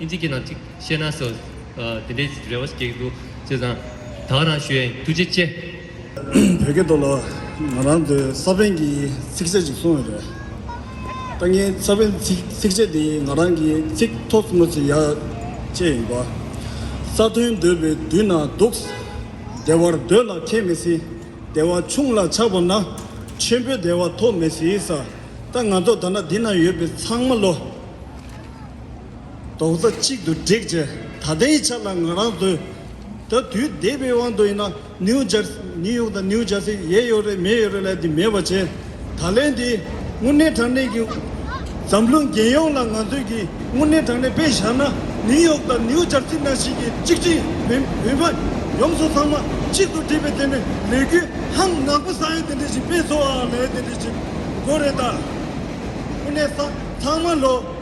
ཨིན་ཇིག་གི་ནང་གཅིག་བཤད་ན་སོ། དེ་འདྲའི་རེ་བ་ཞིག་སྐྱེས་འདུག་བྱས་ཙང། དྭགས་རང་ཞུ་ཡིན་ཐུགས་རྗེ་ཆེ། བོད་སྐད་ཐོག་ལ་ང་རང་ཚོས་ས་བོན་གྱི་ཚིགས་བཅད་ཅིག་གསུང་ཡོད་རེད། ད་ངའི་ས་བོན་གྱི་ཚིགས་བཅད་དེ་ང་རང་གི་ཚིག་ཐོག་གཙོ་མོ་ཚིག་ཡ་བཅས་ཡིན་པ། ས་མཐོའི་འདོད་པའི་མདུན་ན་འདུག། བདེ་བར་སྡོད་ལ་ཁྱད་མི་སྲིད། བདེ་བ་ཆུང་ལ་ཆགས་པ་ན། ཆེན་པོའི་བདེ་བ་ཐོབ་མི་སྲིད། ད་ང་ཚོ་ད་ན་འདི་ན་ཡོད་པའི་ཚང་མ་ལོ། རྡོག་རྩ་གཅིག་ཏུ་བསྒྲིགས་རྗེས་ད་ལྟའི་ཆ་ལ་ང་རང་སྡོད་ད་དུས་འདས་པའི་དབང་དུ་ཡིན་ན་ནིའུ་ཇར་ནིའུ་ཡོག་དང་ནིའུ་ཇར་སི་ཡས་ཡོད་རེད་མེད་ཡོད་རེད་ལས་དེ་མེད་པ་བྱས་ད་ལན་དེ་དངོས་གནས་དྲང་གནས་ཀྱི་འཛམ་གླིང་རྒྱལ་ཡོངས་ལ་ང་ཚོས་ཀྱི་དངོས་གནས་དྲང་གནས་དཔེ་བཞག་ན་ནིའུ་ཡོག་དང་ནིའུ་ཇར་སི་ནང་བཞིན་གྱི་གཅིག་སྤྱི་བོད་མ་ཡོམ་སོགས་ཚང་མ་གཅིག་ཏུ་བསྒྲིགས་པའི་དེ་ནི་ལས་འགུལ་ཧང་ནག་པོ་ས་ཡོད་དེ་འདྲ་ཞིག་སྤེལ་ཚོར་བའང་ལས་དེ་འདྲ་ཞིག་དགོས་རེད་ད་དངོས་གནས་ས་ཚང་མ་ལོ།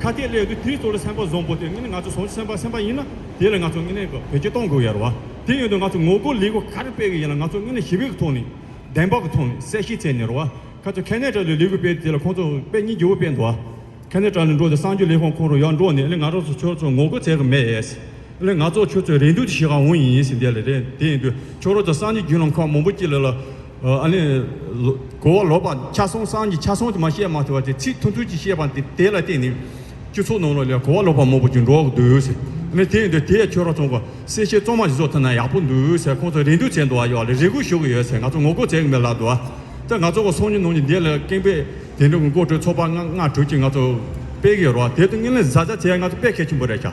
ཁ་སྐད་གླེང་དུས་དེའི་གཙོ་ལ་སེམས་པ་བཟང་པོ་དེ་ངེད་ང་ཚོ་ཟུང་ཆ་སེམས་པ་སེམས་པ་ཡིན་ན་དེ་ལ་ང་ཚོ་ངེད་ནས་བེད་སྤྱོད་གཏོང་དགོས་ཡར་བ་དེ་ཡོད་དུས་ང་ཚོ་ངོ་རྒོལ་ལས་སྒོ་ག་རེ་སྤེལ་གི་ཡིན་ལ་ང་ཚོ་ངེད་ནས་ཞི་བའི་ཐོག་ནས། བདེན་པའི་ཐོག་ནས་གསལ་བཤད་བྱས་ནས་རོ། ཁ་ཚོད་ཁ་ནས་དྲག་ལས་ལས་སྒོ་སྤེལ་དེ་ལ་ཁོང་ཚོ་པད་ཉི་རྒྱལ་བོ་སྤེལ་འདུག་ཨ། ཁ་ནས་དྲག་ལས་འགྲོ་དེ་སངས་རྒྱས་ལས་ཁང་ཁོང་རོ་ཡར་འགྲོ་ནས་ཨ་ལས་ང་རང་ཚོ་ཁྱོད་ཚོ་ངོ་རྒོལ་བྱས་གི་མེད་ཨེས། ཨ་ལས་ང་ཚོ་ཁྱོད་ཚོའི་རེ་འདུན་དེ་ཤི་གང་འོང་ཡིན་ཨེས་འདས་ལ་རེད་དེ་ཡིན་དུས་ཁྱོད་རང་ཚོ་སངས་རྒྱས་རྒྱུད་ལམ་ཁག་མང་པོ་སྐྱིད་ལ་ལ། ཨ་ནི། གོ་བ་ལོག་པ་ཕྱག་ཟུང་སྲང་གི་ཕྱག་ཟུང་དུ་མ་བཤད་མ་ཐུབ་པ་དེ་ཚིག་ཐུང་ཐུང་གཅིག་བཤད་པ་འདི་དེ་ལ་བརྟེན་ནས། སྤྱི་ཚོགས་ནང་ལ་ལས་གོ་བ་ལོག་པ་མང་པོ་ཞིག་འགྲོ་བར་འདུག་ཟེར། ཨ་ནི་དེ་ཡིན་དུས་དེའི་ཆོས་ར་ཚོང་པ་སེར་ཤས་གཙང་མ་ཞིག་བཟོ་ཐུབ་ན་ཡག་པོ་འདུག་ཟེར་ཁོང་ཚོ་རེ་འདུན་བྱས་འདུག་ཨ་ཡོག་ལ་རེ་སྒུག་ཞུ་གི་ཡོད་ཟེར་ང་ཚོ་ངོ་རྒོལ་བྱེད་ཀྱི་མེད་ལབ་འདུག་ཨ། ད་ང་ཚོ་ཁོ་སོང་ཉིན་ནང་ཉིན་འདི་ལ་ཀེང་པའི་དེང་རབས་མགོ་ཁྲོད་ཚོགས་པ་ལྔ་དྲུག་ཅིག་ང་ཚོ་སྤེལ་གི་ཡོད་རོགས་དེ་དུས་དངོས་ལན་བཟའ་བཟའ་ཚེ་ང་ཚོ་དཔེ་ཁས་ཆེན་པོ་རེད་བྱ།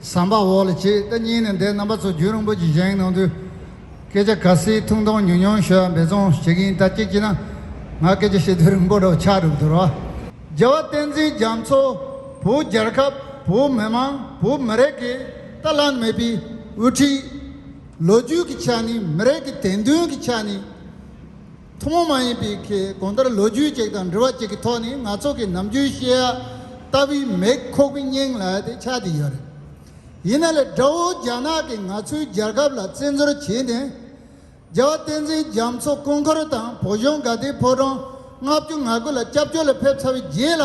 ཟམ་པ་འོག་ལ་བྱེད་ད་སྙིང་ནས་འདས་རྣམ་པ་ཚོ་རྒྱུན་རིང་པོ་གྱི་བཞེངས་གནང་དུས། སྐད་ཆ་ག་སིའི་ཐུང་ཐུང་ཉུང་ཉུང་ཤོད་འབད་བརྩོན་བྱེད་གིན་ད་ཅིག་ཅིག་ན་ང་སྐད་ཆ་བཤད་དུས་རིང་པོ་འགྲོ་ཆགས་འགྲུབ་འདུག་རོ། རྒྱལ་བ་བསྟན་འཛིན་རྒྱ་མཚོ་བོད་རྒྱལ་ཁབ་བོད་མི་མང་བོད་མི་རེ་གིས་ད་བླངས་མེད་པའི་དབུ་ཁྲིད། ལོ་རྒྱུས་ཀྱི་ཆ་ནས་མི་རེ་གི་དད་འདུན་གྱི་ཆ་ནས། ཐུན་མོང་མ་ཡིན་པའི་གོང་ལྟར་ལོ་རྒྱུས་གཅིག་དང་འབྲི་བ་གཅིག་གི་ཐོག་ནས་ང་ཚོ་གི་ནམ་རྒྱུན་ཤེས་ཡ་ལྟ་བུའི་མེག་ཁོག་པི་སྙིང་ལ་དེ་ཆགས་བསྡད་ཡོད་རེད། ཡིན་ན་ལེ་དགྲ་བོ་རྒྱ་ནག་གིས་ང་ཚོའི་རྒྱལ་ཁབ་ལ་བཙན་འཛུལ་བྱས་ནས། རྒྱལ་བ་བསྟན་འཛིན་རྒྱ་མཚོ་སྐུ་འཁོར་དང་བོད་གཞུང་དགའ་བདེའི་ཕོ་བྲང་ལྔ་བཅུ་ང་དགུ་ལ་སྐྱབས་བཅོལ་ལ་ཕེབས་ཚར་བའི་རྗེས་ལ།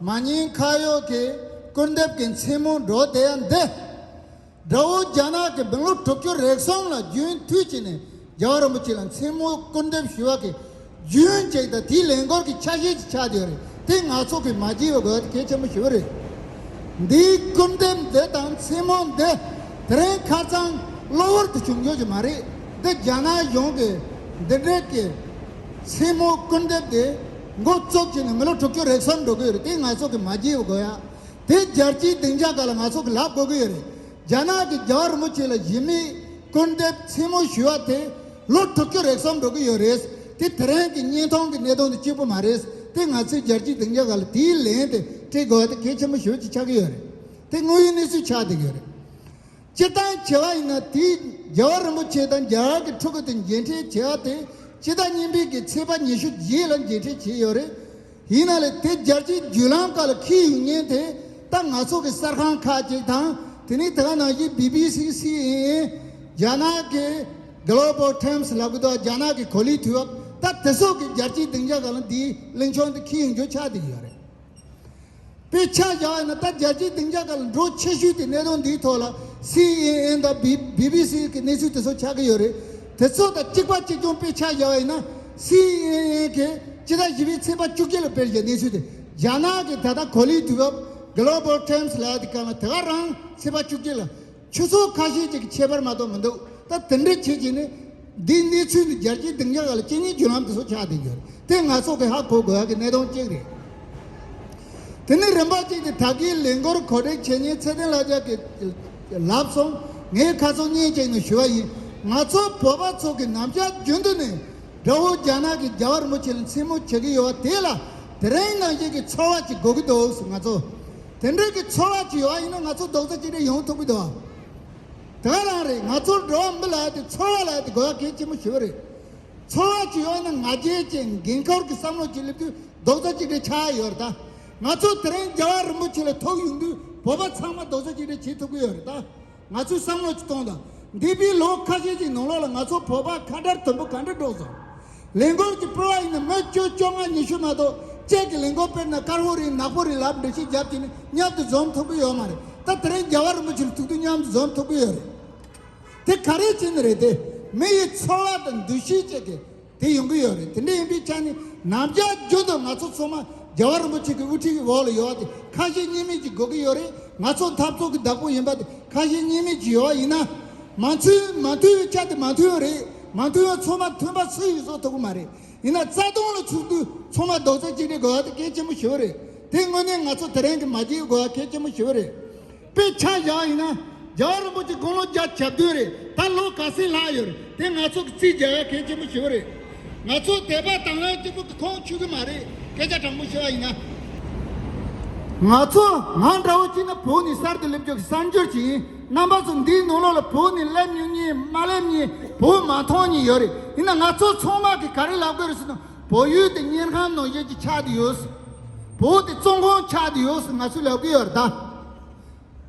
མ་ཉེས་ཁ་གཡོག་གི་སྐུར་འདེབས་ཀྱི་མཚན་མོ་འགྲོ་བདེ་ཡ་འདི། དགྲ་བོ་རྒྱ་ནག་གི་བན་ལོ་དྲུག་ཅུ་རེ་གསུམ་ལ་རྒྱུན་མཐུད་བྱས་ནས་རྒྱལ་བ་རིན་པོ་ཆེ་ལ་མཚན་མོ་སྐུར་འདེབས་ཞུ་བ་གི་རྒྱུན་ཅིག་དང་དེའི་ལས་འགོར་གྱི་ཆ་ཤས་ཅིག་ཆགས་ཀྱི་ཡོད་རེད་དེ་ནག་ཚོགས་ཀྱིས་མ་བགྱིས་པའི་དགོས་གལ་ཆེན་པོ་ཞིག་རེད། འདིའི་སྐུར་འདེབས་འདི་དང་མཚན་མོ་འདི་དེ་རིང་ཁ་ཚང་གློ་བུར་དུ་བྱུང་ཆོག་གི་མ་རེད་འདི་རྒྱ་ནག་གཞུང་གིས་འདི་འདྲ་གི་མཚན་མོ་སྐུར་འདེབས་དེ། མགོ་བཙུགས་ཀྱི་ནི་མི་ལོ་དྲུག་ཅུ་རེག་གསུམ་འགྲོ་གི་ཡོད་རེད་དེ་ང་ཚོ་གི་མ་རྒྱལ་ཡོ་དགོ་ཡ། དེ་རྒྱལ་སྤྱིའི་སྡིངས་ཆ་ག་ལ་ང་ཚོ་གི་ལག་དགོ་གི་ཡོད་རེད། རྒྱ་ནག་གི་རྒྱལ་བ་རིན་པོ་ཆེ་ལ་གཞི་མེད་སྐུར་འདེབས་མཚན་མོ་ཞུས་བ་དེ་ལོ་དྲུག་ཅུ་རེག་གསུམ་འགྲོ་གི་ཡོད་རེད། དེ་དེ་རིང་གི་བརྙན་ཐུང་གི་གནད་དོན་དེ་གཅིག་པུ་མ་རེད། དེ་ང་ཚོའི་རྒྱལ་སྤྱིའི་སྡིངས་ཆ་ག་ལ་དེའི་ལན་དེ་སྤྲད་དགོ་ཡ་དེ་གལ་ཆེན་པོ་ཞུ་བ་ཅིག་ཆགས་ཀྱི་ཡོད་རེད། དེ་དངོས་ཡོད་གནས་ཚུལ་ཆགས་བསྡད་ཡོད་རེད། སྤྱིར་བཏང་བྱེ་བ་ཡིན་ན་དེའི་རྒྱལ་བ་རིན་པོ་ཆེ་དང་རྒྱལ་བ་གྱི་ཕྲུ་གུ་དེ་མཇལ་འཕྲད་བྱེད་ཨ་དེ་སྤྱི་ཟླ་གཉིས་འཕེལ་གྱི་ཚེས་པ་ཉི་ཤུ་བརྒྱད་ལ་མཇལ་འཕྲད་བྱས་ཡོད་རེད། ཡིན་ན་ལས་དེ་སྦྱར་རྗེས་བརྒྱུད་ལམ་ཁག་ལ་ཁིས་ཡོད་ངེས་དེ་ལྟ་ང་ཚོ་གི་གསར་ཁང་ཁག་ཅིག་དང་དེ་ནི་དེ་ག་ནང་བཞིན་བྷི་བྷི་སི་སི་ཨེན་ཨེན། རྒྱ་ནག་གི། Global Times། ལ་གུ་དོག་རྒྱ་ནག་གི་གོ་ལིའི་དུས་བབ་ལྟ་དེ་སོགས་ཀྱི་སྦྱར་རྗེས་སྡིངས་ཆ་ཁག་ལ་འདིའི་གླིང་ཕྱོགས་འདི་ཁིས་ཡོད་འགྱུར་ཆགས་བསྡད་ཡོད་རེད། དཔེ་ཆ་བཞག་ཡོད་ན་ད་རྒྱལ་སྤྱིའི་སྡིངས་ཆ་ཁག་ལ་འགྲོ་ཆེ་ཤོས་དེ་གནད་དོན་འདིའི་ཐོག་ལ་སི་ཨེན་ཨེན་དང་བི་བི་བི་སི་གི་གནས་ཚུལ་དེ་ཚོ་ཆགས་ཀྱི་ཡོད་རེད། དེ་ཚོ་དང་གཅིག་པ་གཅིག་མཚུངས་དཔེ་ཆ་བཞག་ཡོད་ན་སི་ཨེན་ཨེན་གིས་སྤྱི་ཟླ་བཞི་པའི་ཚེས་པ་བཅུ་གཅིག་ལ་སྤེལ་བཞིན་གནས་ཚུལ་དེ་རྒྱ་ནག་གི་ད་ལྟ་གོ་ལའི་དུས་བབ Global Times ལགས་ཀྱི་སྐབས་ལ་དེ་ག་རང་ཚེས་པ་བཅུ་གཅིག་ལ་ཆུ་ཚོགས་ཁ་ཤས་ཅིག་ཁྱད་པར་མ་གཏོགས་མི་འདུག་ད་དེ་འདྲ་བྱེད་ཀྱི་ནི། འདིའི་གནས་ཚུལ་འདི་རྒྱལ་སྤྱིའི་སྡིངས་ཆ་ཁག་ལ་སྤྱི་གཉེར་བརྒྱུད་ལམ་དུ་སོགས་ཆགས་བསྡད་ཡོད། དེ་ང་ཚོ་གིས་ཧ་གོ་དགོས་ཡག་གི་གནད་དོན་གཅིག་རེད། དེ་ནི་རིམ་པ་གཅིག་སྟེ་ད་གིའི་ལས་འགོར་གོ་སྒྲིག་བྱེད་ཉིན་ཚེ་བརྟན་ལྷ་རྒྱལ་གྱིས། ལབ་སོང། ངས་ཁ་ཚོན་གཉིས་བཅད་ནས་ཞུས་པ་ཡིན། ང་ཚོ་བོད་པ་ཚོ་གིས་ནམ་ཞར་རྒྱུན་དུ་ནས་དགྲ་བོ་རྒྱ་ནག་གིས་རྒྱ་བ་རིན་པོ་ཆེ་ལ་མཚན་མོ་བྱེད་ཀྱི་ཡོད་པ་དེ་ལ་དེ་རིང་ནང་བཞིན་གྱི་ཚོར་བ་ཅིག་དགོས་ཀྱི་འདུག་ང་ཚོ་དེ་འདྲ་གི་ཚོར་བ་ཅིག་ཡོང་བ་ཡིན་ན་ང་ཚོ་རྡོག་རྩ་གཅིག་སྒྲིལ་ཡོང་ཐུབ་གི་འདུག་ད་ག་རང་རེད་ང་ཚོར་འགྲོ་བ་མི་ལ་ཡོད་དེ་ཚོར་བ་ལ་ཡོད་དེ་དགོས་པ་གལ་ཆེན་པོ་ཞིག་རེད་ཚོར་བ་ཅིག་ཡོང་ན་ང་རྒྱལ་བཅས་འགན་ཁུར་གི་བསམ་བློ་ཅིག་སླེབས་དུས་རྡོག་རྩ་གཅིག་སྒྲིལ་ཆགས་ཡས་ཡོད་རེད་ད་ང་ཚོ་དེ་རིང་རྒྱལ་བ་རིན་པོ་ཆེ་ལ་ཐུག་ཡོང་དུས་བོད་པ་ཚང་མ་རྡོག་རྩ་གཅིག་སྒྲིལ་བྱེད་ཐུབ་གི་ཡོད་རེད་ད། ང་ཚོས་བསམ་བློ་གཅིག་གཏོང་དང། འདས་པའི་ལོ་ཁ་ཤས་ཀྱི་ནང་ལོགས་ལ་ང་ཚོ་བོད་པར་ཁ་བརྡར་དོན་པོ་ག་འདྲ་སྒྲོག་སོང། ལས་འགུལ་གྱི་སྤེལ་བ་ཡིན་ན་མི་བཅུ་བཅོ་ལྔ་ཉི་ཤུ་མ་གཏོགས་བཅས་ཀྱི་ལས་འགུལ་སྤེལ་ན་དཀར་བོ་རེད་ནག་པོ་རེད་ལབ་འབྲི་ཤི་རྒྱབ་ཀྱིས་ནི་མཉམ་དུ་འཛོམས་ཐུབ་ཀྱི་ཡོད་མ་རེད་ད་དེ་རིང་རྒྱལ་བ་རིན་པོ་ཆེར་ཐུག་དུས་མཉམ་དུ་འཛོམས་ཐུབ་ཀྱི་ཡོད་རེད། དེ་ག་རེའི་རྐྱེན་རེད་དེ། མི་ཡི་ཚོར་བ་དང་འདུ་ཤེས་བཅས་ཀྱི། དེ་ཡོང་གི་ཡོད་རེད་དེ་འདྲ་ཡིན་པའི་ཆ་ནས་ནམ་རྒྱ་རྒྱུན་དུ་ང་ཚོ་ཚང་མ་རྒྱལ་བ་རིན་པོ་ཆེ་གི་དབུ་ཁྲིད་ཀྱི་འོག་ལ་ཡོད་དེ་ཁ་ཞེ་གཉིས་མེད་ཀྱི་དགོས་ཀྱི་ཡོད་རེད་ང་ཚོ་འཐབ་རྩོད་ཀྱི་བདག་པོ་ཡིན་པ་དེ་ཁ་ཞེ་གཉིས་མེད་ཀྱི་ཡོད་ཡིན་ན་མ་མཐུན་མ་མཐུན་བའི་ཆ་དེ་མ་མཐུན་ཡོད་རེད་མ་མཐུན་བ་ཚང་མ་མཐུན་པ་སུ་ཡིས་བཟོ་ཐུབ་ཀྱི་མ་རེད་ཡིན་ན་རྩ་དོན་ལ་ཚུགས་དུས་ཚང་མ་རྡོག་རྩ་གཅིག་སྒྲིལ་དགོས་པ་དེ་གལ་ཆེན་པོ་ཞིག་རེད་དེ་དངོས་གནས་ང་ཚོ་དེ་རིང་གི་མ་བརྗེད་དགོས་པ་གལ་ཆེན་པོ་ཞིག་རེད། དཔེ་ཆ་བཞག་ཡིན་ན་རྒྱ་བོད་རིན་པོ་ཆེ་དགུང་ལོ་བརྒྱ་ཆ་བདུན་རེད་ད་ལོ་ག་སྲིད་ལྷག་ཡོད་རེད་དེ་ང་ཚོ་གི་རྩིས་རྒྱལ་བ་གལ་ཆེན་པོ་ཞེ་བོ་རེད་ང་ཚོ་དད་པ་དང་ལེན་སྐྱིད་པོ་གི་ཁོང་ཆུད་གི་མ་རེད་སྐད་ཆ་དྲང་པོ་བཤད་པ་ཡིན་ན། ང་ཚོ་ང་འདྲ་བོ་གཅིག་ནི་བོད་ནས་གསར་དུ་སླེབས་རྒྱུ་གི་གསར་འབྱོར་ཞིག་ཡིན་རྣམ་པ་ཚོ་འདིའི་ནང་ལོགས་ལ་བོད་ནས་སླེབས་མྱོང་མྱིན་མ་སླེབས་མྱིན་བོད་མ་མཐོང་མྱིན་ཡོད་རེད་ཡིན་ན་ང་ཚོ་ཚང་མ་གི་ག་རེ་ལབ་དགོས་རེད་ཟེར་ན། བོད་ཡུལ་དེ་གཉེར་ཁང་ནང་བཞིན་གྱི་ཆགས་དུ་ཡོད། བོད་དེ་བཙོན་ཁང་ཆགས་དུ་ཡོད་ཟེར་ང་ཚོས་ལབ་གི་ཡོད་རེད་ད།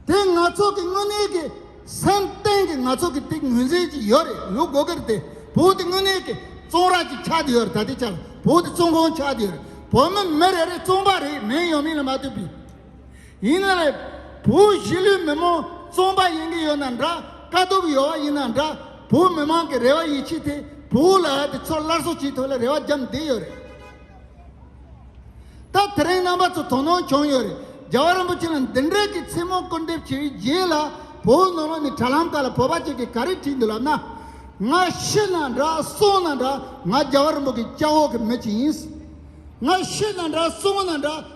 དེ་ང་ཚོ་གི་དངོས་གནས་ཀྱི་སེམས་གཏིང་གི་ང་ཚོ་གི་དེ་ངོས་འཛིན་ཅིག་ཡོད་རེད་ལུགས་དགོས་ཀྱི་རེད་དེ། བོད་དེ་དངོས་གནས་ཀྱི་བཙོན་ར་ཅིག་ཆགས་དུ་ཡོད་རེད་ད་དེ་ཆགས་བོད་དེ་བཙོན་ཁང་ཆགས་དུ་ཡོད་རེད། བོད་མི་མི་རེ་རེ་བཙོན་པ་རེད་མིན་ཡོད་མིན་ལ་མ་ལྟོས་པའི། ཡིན་ན་རེད། བོད་གཞིས་ལུས་མི་མང་བཙོང་པ་ཡིན་གྱི་ཡོད་ན་འདྲ་དཀའ་སྡུག་ཡོད་བ་ཡིན་ན་འདྲ་བོད་མི་མང་གི་རེ་བ་ཡིད་ཆེས་དེ་བོད་ལ་ཡོད་དེ་ཚོར་སླར་གསོ་བྱེད་ཐུབ་ལ་རེ་བ་བརྒྱབ་བསྡད་ཡོད་རེད། ད་དེ་རིང་རྣམ་པ་ཚོ་དོ་སྣང་བྱུང་ཡོད་རེད་རྒྱལ་བ་རིན་པོ་ཆེ་ལ་འདི་འདྲའི་གི་མཚན་མོ་སྐུར་འདེབས་བྱས་རྗེས་ལ་བོད་ནང་ལ་ནི་དྲ་ལམ་ཁག་ལ་བོད་པ་ཅིག་གིས་ག་རེ་བྲིས་འདུག་ལབ་ན། ང་ཤི་ན་འདྲ་སོང་ན་འདྲ་ང་རྒྱལ་བ་རིན་པོ་གི་སྐྱག་འོག་གི་མི་ཅིག་ཡིན། ང་ཤི་ན་འདྲ་སོང་ན་འདྲ།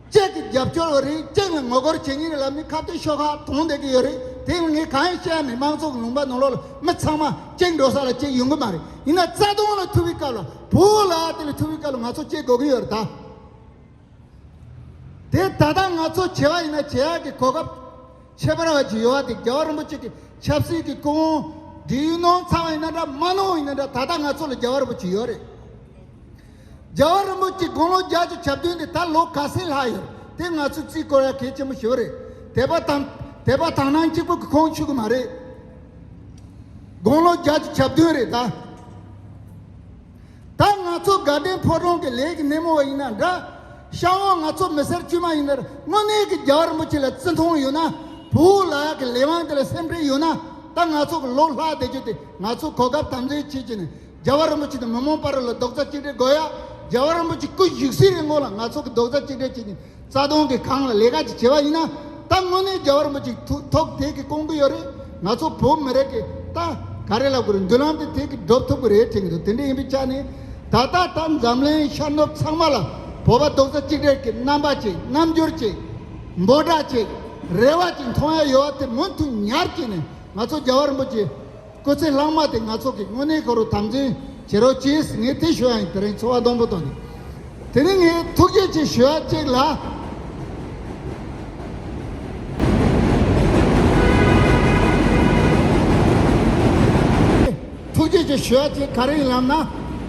བཅས་ཀྱི་རྒྱབ་སྐྱོར་བ་རིགས་གཅིག་ནས་ངོ་རྒོལ་བྱེད་ངེས་ཀྱི་ལམ་ནས་ཁ་གཏད་ཤོག་ཁག་དོང་སྡེ་གི་ཡོད་རེད་དེ་ནི་ངས་གང་ཡང་བཤད་ཡ་མེད་དམངས་གཙོ་གི་ལུང་པ་ནོར་ལོག་ལ་མི་ཚང་མ་གཅིག་འགྲོ་ས་ལ་གཅིག་ཡོང་གི་མ་རེད་ཡིན་ན་རྩ་དོང་ལ་ཐུག་པའི་སྐབས་ལ་བོད་ལ་དེ་ལས་ཐུག་པའི་སྐབས་ལ་ང་ཚོ་གཅིག་དགོས་ཀྱི་ཡོད་རེད་ད། དེ་ད་ལྟ་ང་ཚོ་བྱེས་པ་ཡིན་ན་བྱེས་ཡག་གི་གོ་སྐབས་ཁྱད་པར་བ་ཅིག་ཡོད་བ་དེ་རྒྱལ་བ་རིན་པོ་ཆེ་གི་ཆབ་སྲིད་གི་སྐུ་དབང་འདི་ཡུལ་ནང་ཚང་བ་ཡིན་ན་འདྲ་མ་ནང་བ་ཡིན་ན་འདྲ་ད་ལྟ་ང་ཚོ་ལ་རྒྱལ་བ་རིན་པོ་ཆེ་ཡོད་རེད། རྒྱལ་བ་རིན་པོ་ཆེའི་དགུང་ལོ་བརྒྱད་ཅུ་བྱབས་བདུན་དེ་ད་ལོ་ག་ཚད་ལྷག་ཡོད་དེ་ང་ཚོས་རྩིས་བསྐོར་ཡ་གལ་ཆེན་པོ་ཞིག་རེད་དད་པ་དང་དད་པ་དག་སྣང་གཅིག་པོ་གི་ཁོང་ཆུད་གི་མ་རེད། དགུང་ལོ་བརྒྱད་ཅུ་བྱབས་བདུན་རེད་ད། ད་ང་ཚོ་དགའ་ལྡན་ཕོ་བྲང་གི་ལས་ཀྱི་སྣེ་མོ་བ་ཡིན་ན་འདྲ། ཤ་བོ་ང་ཚོ་མི་སེར་དཀྱུས་མ་ཡིན་ནར་དངོས་གནས་ཀྱི་རྒྱལ་བ་རིན་པོ་ཆེ་ལ་བརྩི་མཐོང་ཡོད་ན་བུ་འུ་ལག་གི་ལས་དབང་དེ་ལ་སེམས་ཁྲལ་ཡོད་ན་ད་ང་ཚོ་གི་ལོ་ལྷག་བསྡད་རྒྱུ་དེ་ང་ཚོ་གོ་སྐབས་དམ་འཛིན་བྱེད་ཀྱི་ནི་རྒྱལ་བ་རིན་པོ་ཆེ་དང་མི་མང་དཔའ་རུ་ལ་རྡོག་རྩ་གཅིག་སྒྲིལ་དགོས་ཡ། རྒྱལ་བ་རིན་པོ་ཆེ་སྐུ་བཞུགས་སའི་རིན་གོང་ལ་ང་ཚོ་གི་རྡོག་རྩ་གཅིག་སྒྲིལ་བྱེད་ཀྱིན་རྩ་དོན་གི་གང་ལ་ལས་ཀ་ཅིག་བྱེད་པ་ཡིན་ན་ད་དངོས་གནས་རྒྱལ་བ་རིན་པོ་ཆེ་ཐུགས་ཐོག་དེ་གི་སྐོང་གི་ཡོད་རེད་ང་ཚོ་བོད་མི་རེད་གི་ད་ག་རེ་ལབ་དགོས་རེད་མདུན་ལམ་དེ་དེ་གི་སྒྲོབ་ཐུབ་གི་རེད་དྲན་གི་འདུག་དེ་འདྲ་ཡིན་པའི་ཆ་ནས་ད་ལྟ་ད་འཛམ་གླིང་ཤར་ནུབ་ཚང་མ་ལ་བོད་པ་རྡོག་རྩ་གཅིག་སྒྲིལ་གི་རྣམ་པ་ཅིག་རྣམ་འགྱུར་ཅིག། འབོད་སྒྲ་ཅིག། རེ་བ་ཅིག་མཐོང་ཡ་ཡོད་བ་དེ་མུ་མཐུད་ཉར་གྱིན་ནས་ང་ཚོ་རྒྱལ་བ་རིན་པོ་ཆེ་སྐུ་ཚེ་བླང་མ་དེ་ང་ཚོ་གི་དངོས་གནས་ཁོ་རུ་དམ་འཛིན་བྱེད་རོགས་གྱིས་ངས་དེ་ཞུ་ཡ་ཡིན་དེ་རིང་འཚོ་བ་སྡོང་པོ་དང་དེ་རིང་ངས་ཐུགས་རྗེ་ཆེ་ཞུ་ཡ་གཅིག་ལ། ཐུགས་རྗེ་ཆེ་ཞུ་ཡ་གཅིག་ག་རེ་ཡིན་ལབ་ན།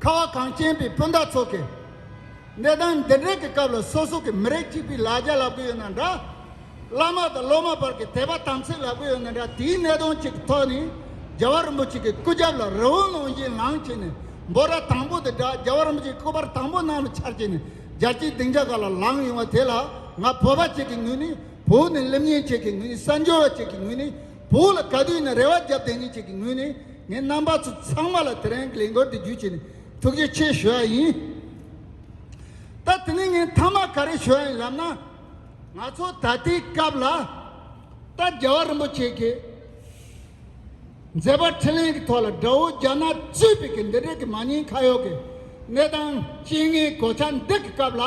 ཁ་བ་གངས་ཅན་པའི་སྤུན་ཟླ་ཚོ་གིས། གནས་སྟངས་འདི་འདྲའི་གི་སྐབས་ལ་སོ་སོ་གི་མི་རིགས་གཅིག་པའི་ལ་རྒྱ་ལབ་གི་ཡོད་ན་འདྲ། བླ་མ་དང་སློབ་མ་བར་གི་དད་པ་དམ་ཚིག་ལབ་གི་ཡོད་ན་འདྲ་དེའི་གནད་དོན་གཅིག་གི་ཐོག་ནས་རྒྱལ་བ་རིན་པོ་ཆེ་གི་སྐུ་རྒྱབ་ལ་རི་བོ་ནང་བཞིན་ལངས་བྱས་ནས་འབོ་ར་དང་པོ་དེ་འདྲ་རྒྱལ་བ་རིན་པོ་ཆེ་སྐུ་པར་དང་པོ་ནང་ལ་འཆར་བྱས་ནས་རྒྱལ་སྤྱིའི་སྡིངས་ཆ་ག་ལ་ལངས་ཡོང་བ་དེ་ལ་ང་བོད་པ་གཅིག་གི་ངོས་ནས་བོད་ནས་གླིམ་ཉན་བྱེད་གི་ངོས་ནས་གསར་འབྱོར་བ་གཅིག་གི་ངོས་ནས་བོད་ལ་ག་དུས་ནས་རེ་བ་བརྒྱབ་བསྡད་མྱིན་ཅིག་གི་ངོས་ནས་ངའི་རྣམ་པ་ཚོ་ཚང་མ་ལ་དེ་རིང་གི་ལས་འགུལ་འདི་བརྒྱུད་ཆེད་ནས་ཐུགས་རྗེ་ཆེ་ཞུ་བ་ཡིན། ད་དེ་ནས་ངས་མཐའ་མ་ག་རེ་ཞུ་བ་ཡིན་ལབ་ན། ང་ཚོ་ད་ལྟའི་སྐབས་ལ་ད་རྒྱལ་བ་རིན་པོ་ཆེ་གིས་མཛད་པ་ཁྲི་གླིང་གི་ཐོག་ལ་དགྲ་བོ་རྒྱ་ནག་གཙོས་པའི་གི་འདི་འདྲའི་གི་མ་ཉེས་ཁ་གཡོག་གི་གནས་སྟངས་སྤྱི་དངའི་གོ་ཆ་འདི་གི་སྐབས་ལ།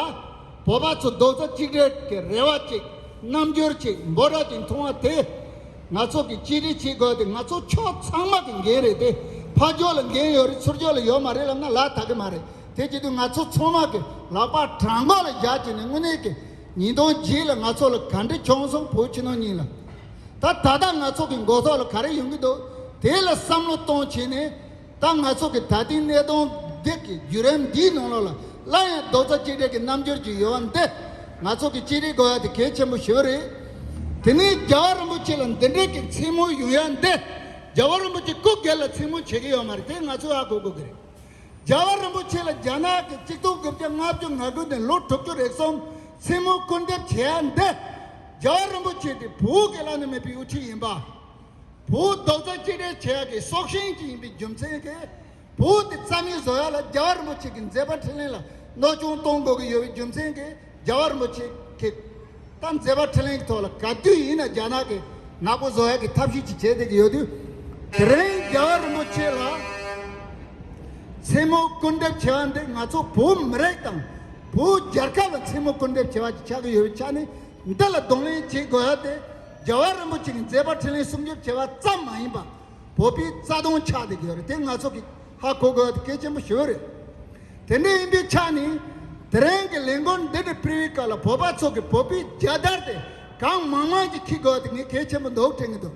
བོད་པ་ཚོ་རྡོག་རྩ་གཅིག་སྒྲིལ་གྱི་རེ་བ་ཅིག་རྣམ་འགྱུར་ཅིག་འབོ་ར་གྱི་མཐོང་བ་དེ། ང་ཚོ་གིས་གཅིག་སྒྲིལ་བྱེད་དགོས་ཏེ་ང་ཚོ་ཕྱོགས་ཚང་མ་གི་འགན་རེད་དེ། ཕ་ཕྱོགས་ལ་འགན་ཡོད་རེད་ཚུར་ཕྱོགས་ལ་ཡོད་མ་རེད་ལབ་ན་ལ་དག་གི་མ་རེད་དེ་བྱེད་དུས་ང་ཚོ་ཚང་མ་གི་ལག་པ་བྲང་མགོ་ལ་བཞག་བྱས་ནས་དངོས་གནས་ཀྱི་ཉིས་སྟོང་བརྒྱད་ལ་ང་ཚོ་ལ་ག་འདྲི་བྱུང་སོང་བོད་ཕྱི་ནང་གཉིས་ལ་ད་ད་ལྟ་ང་ཚོ་གི་མགོ་ཐོག་ལ་ག་རེ་ཡོང་གི་འདུག་དེ་ལ་བསམ་བློ་གཏོང་བྱས་ནས་ད་ང་ཚོ་གི་ད་ཐེངས་གནས་སྟོང་སྡེབ་ཀྱི་བརྒྱུད་རིམ་འདིའི་ནང་ལོགས་ལ་སླར་ཡང་རྡོག་རྩ་གཅིག་སྒྲིལ་གྱི་རྣམ་འགྱུར་གྱི་ཡོལ་བ་འདི་ང་ཚོ་གི་གཅིག་སྒྲིལ་དགོས་ཡ་དེ་གལ་ཆེན་པོ་ཞེ་བོ་རེད། དེ་ནས་རྒྱལ་བ་རིན་པོ་ཆེ་ལ་འདི་འདྲས་ཀྱི་མཚན་མོ་ཡོང་ཡ་འདི་རྒྱལ་བ་རིན་པོ་ཆེ་སྐུ་སྒེར་ལ་མཚན་མོ་བྱེད་ཀྱི་ཡོད་མ་རེད་དེ་ང་ཚོས་ཧ་གོ་དགོས་ཀྱི་རེད། རྒྱལ་བ་རིན་པོ་ཆེ་ལ་རྒྱ་ནག་གི་གཅིག་སྟོང་དགུ་བརྒྱ་ལྔ་བཅུ་ང་དགུ་ནས་ལོ་དྲུག་ཅུ་རེ་གསུམ་མཚན་མོ་སྐུར་འདེབས་བྱེད་ཡ་འདི་རྒྱལ་བ་རིན་པོ་ཆེ་དེ་བོད་སྐད་ལ་ནི་མེད་པའི་དབུ་ཁྲིད་ཡིན་པ། བོའུ་རྡོག་རྩ་གཅིག་སྒྲིལ་བྱེད་ཡག་གི་སྲོག་ཤིང་གཅིག་ཡིན་པའི་རྒྱུ་མཚན་གྱིས་བོའུ་དེ་རྩ་མེད་བཟོ་ཡག་ལ་རྒྱལ་བ་རིན་པོ་ཆེ་གི་མཛད་པ་ཕྲིན་ལན་ལ་གནོད་སྐྱོན་གཏོང་དགོས་ཀྱི་ཡོད་པའི་རྒྱུ་མཚན་གྱིས་རྒྱལ་བ་རིན་པོ་ཆེ་གི་ད་མཛད་པ་ཕྲིན་ལན་གྱི་ཐོག་ལ་ག་དུས་ཡིན་ན་རྒྱ་ནག་གི་ནག་པོ་བཟོ་ཡག་གི་ཐབས་ཤེས་གཅིག་བྱེད་བསྡད་ཀྱི་ཡོད་དུས་དེ་རིང་རྒྱལ་བ་རིན་པོ་ཆེ་ལ་མཚན་མོ་སྐུར་འདེབས་བྱེད་པ་འདི་ང་ཚོ་བོད་མི་རིགས་དང་བོད་རྒྱལ་ཁབ་ལ་མཚན་མོ་སྐུར་འདེབས་བྱེད་པ་གཅིག་ཆགས་ཀྱི་ཡོད་པའི་ཆ་ནས་མི་དག་ལ་གདོང་ལེན་བྱེད་དགོས་ཡ་དེ་རྒྱལ་བ་རིན་པོ་ཆེ་གི་མཛད་པ་འཕྲིན་ལས་སྲུང་སྐྱོབ་བྱེད་པ་ཙམ་མ་ཡིན་པ་བོད་པའི་རྩ་དོན་ཆགས་དེ་དགོས་རེད་དེ་ང་ཚོ་གི་ཧ་གོ་དགོས་ཡ་དེ་གལ་ཆེན་པོ་ཞེ་བོ་རེད། དེ་འདྲ་ཡིན་པའི་ཆ་ནས་དེ་རིང་གི་ལས་འགུལ་འདི་འདྲ་སྤེལ་བའི་སྐབས་ལ་བོད་པ་ཚོ་གི་བོད་པའི་རྒྱལ་དར་དེ་གང་མང་མང་གི་འཁྱིལ་དགོས་ཡ་དེ་ངས་གལ་ཆེན་པོ་འདུག་དྲན་གི་འདུག